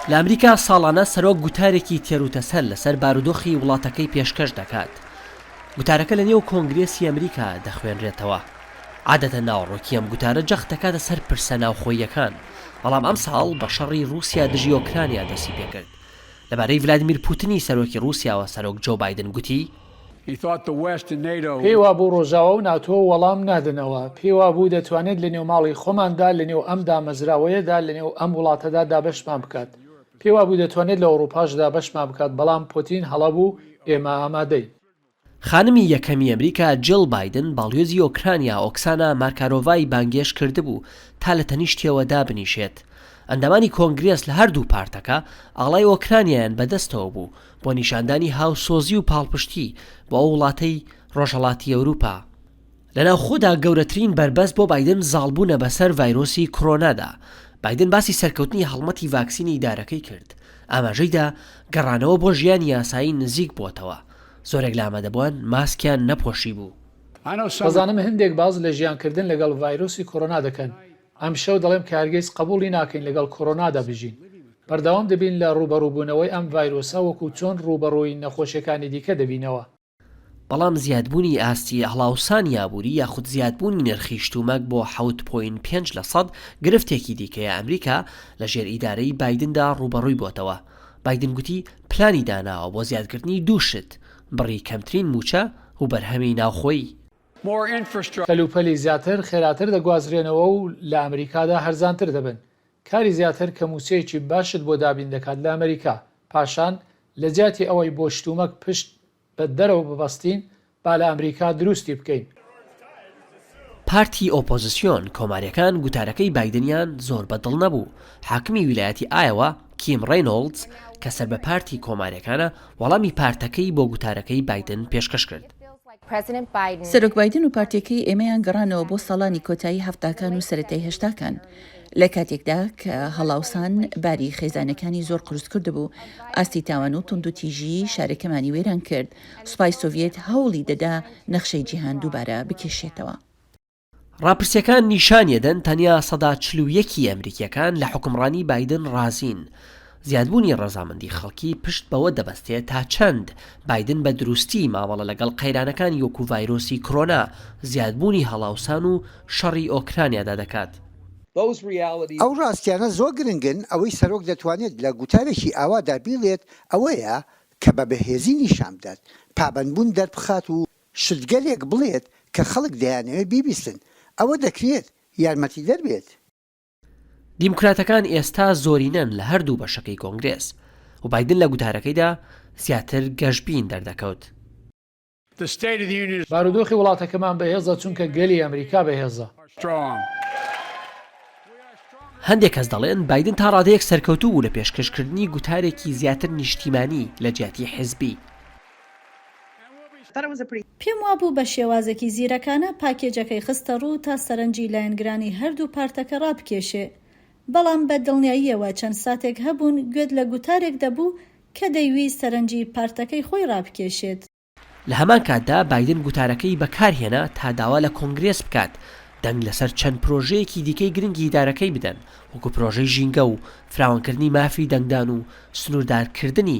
لە ئەمریکا ساڵانە سەرۆک گوتارێکی تێروتەسەل لەسەر بارودۆخی وڵاتەکەی پێشکەش دەکات. گوتارەکە لەنێو کۆنگرێسی ئەمریکا دەخوێنرێتەوە. عادەتەن ناوەڕۆکی ئەم گوتارە جەخت دەکاتە سەر پرسە ناوخۆییەکان، بەڵام ئەمساڵ بە شەڕی رووسیا دژی ئۆکرانیا دەستی پێکرد. لەبارەی ڤلادیمیر پوتنی سەرۆکی رووسیاوە سەرۆک جۆ بایدن گوتی، پێی وابوو ڕۆژاوا و ناتۆ وەڵام نادەنەوە. پێی وابوو دەتوانێت لەنێو ماڵی خۆماندا، لەنێو ئەم دامەزراوەیەدا، لەنێو ئەم وڵاتەدا دابەشمان بکات. پێی وابوو دەتوانێت لە ئەوڕوپاش دابەشمان بکات، بەڵام پۆتین هەڵە بوو، ئێمە ئامادەین. خانمی یەکەمی ئەمریکا جیڵ بایدن باڵیۆزی ئۆکرانیا ئۆکسانا مارکارۆڤای بانگێشت کردبوو تا لە تەنیشتیەوە دابنیشێت. ئەندامانی کۆنگرێس لە هەردوو پارتەکە ئاڵای ئۆکرانیایان بەدەستەوە بوو، بۆ نیشاندانی هاوسۆزی و پاڵپشتی بۆ ئەو وڵاتەی ڕۆژهەڵاتی ئەوروپا، لە ناوخۆدا گەورەترین بەربەست بۆ بایدن زاڵبوونە بەسەر ڤایرۆسی کۆرۆنادا، بایدن باسی سەرکەوتنی هەڵمەتی ڤاکسینی دارەکەی کرد، ئاماژەیدا گەڕانەوە بۆ ژیانی یاسایی نزیک بووەتەوە، زۆرێک لە ئامادەبووان ماسکیان نەپۆشیبوو. دەزانم هەندێک باس لە ژیانکردن لەگەڵ ڤایرۆسی کۆرۆنا دەکەن، ئەمشەو دەڵێم کە هەرگیز قبوڵی ناکەین لەگەڵ کۆرۆنادا بژین. بەردەوام دەبین لە ڕووبەڕووبوونەوەی ئەم ڤایرۆسە وەکو چۆن ڕووبەڕووی نەخۆشیەکانی دیکە دەبینەوە. بەڵام زیادبوونی ئاستی هەڵاوسانی ئابووری یاخود زیادبوونی نرخی شتومەک بۆ حەوت پۆینت پێنج لە سەد گرفتێکی دیکەیە ئەمریکا لە ژێر ئیدارەی بایدندا ڕووبەڕووی بۆتەوە بایدن گوتی پلانی داناوە بۆ زیادکردنی دوو شت بڕی کەمترین مووچە وبەرهەمی ناوخۆیی کەلوپەلی زیاتر خێراتر دەگوازرێنەوە و لە ئەمریکادا هەرزانتر دەبن. کاری زیاتر کە مووچەیەکی باشت بۆ دابین دەکات لە ئەمریکا. پاشان، لە جیاتی ئەوەی بۆ شتومەک پشت بە دەرەوە ببەستین، با لە ئەمریکا دروستی بکەین. پارتی ئۆپۆزسیۆن کۆماریەکان گوتارەکەی بایدنیان زۆر بە دڵ نەبوو، حاکمی ویلایەتی ئایەوا، کیم ڕەینۆڵدز کە سەر بە پارتی کۆماریەکانە وەڵامی پارتەکەی بۆ گوتارەکەی بایدن پێشکەش کرد. سەرۆک بایدن و پارتیەکەی ئێمەیان گەڕانەوە بۆ ساڵانی کۆتایی هەفتاکان و سەرەتای هەشتاکان لە کاتێکدا کە هەڵاوسان باری خێزانەکانی زۆر قورس کردبوو، ئاستی تاوان و توندوتیژیی شارەکەمانی وێران کرد، سوپای سۆڤیەت هەوڵی دەدا نەخشەی جیهان دووبارە بکێشێتەوە. ڕاپرسییەکان نیشانیەدەن تەنیا سەدا چل و یەک ی ئەمریکییەکان لە حوکمڕانی بایدن ڕازین. زیادبوونی ڕەزامەندی خەڵکی پشت بەوە دەبەستێت تا چەند بایدن بە دروستی مامەڵە لەگەڵ قەیرانەکانی وەکو ڤایرۆسی کرۆنا، زیادبوونی هەڵاوسان و شەڕی ئۆکرانیادا دەکات. ئەو ڕاستیانە زۆر گرنگن، ئەوەی سەرۆک دەتوانێت لە گوتارێکی ئاوادا بیڵێت ئەوەیە کە بە بەهێزی نیشانبدات پابەندبوون دەربخات و شتگەلێک بڵێت کە خەڵک دەیانەوێت بیبیستن، ئەوە دەکرێت یارمەتیدەر بێت. دیموکراتەکان ئێستا زۆرینەن لە هەردوو بەشەکەی کۆنگرێس، و بایدن لە گوتارەکەیدا زیاتر گەشبین دەردەکەوت. بارودۆخی وڵاتەکەمان بەهێزە چونکە گەلی ئەمریکا بەهێزە. هەندێک کەس دەڵێن بایدن تا ڕادەیەک سەرکەوتوو بوو لە پێشکەشکردنی گوتارێکی زیاتر نیشتیمانی لەجیاتی حزبی. پێم وابوو بە شێوازێکی زیرەکانە پاکێجەکەی خستەڕوو تا سەرنجی لایەنگرانی هەردوو پارتەکە ڕابکێشێ، بەڵام بە دڵنیاییەوە چەند ساتێک هەبوون گوێت لە گوتارێک دەبوو کە دەیویست سەرنجی پارتەکەی خۆی ڕابکێشێت. لە هەمان کاتدا بایدن گوتارەکەی بەکارهێنا تا داوا لە کۆنگرێس بکات دەنگ لەسەر چەند پرۆژەیەکی دیکەی گرنگی ئیدارەکەی بدەن، وەکو پرۆژەی ژینگە و فراوانکردنی مافی دەنگدان و سنووردارکردنی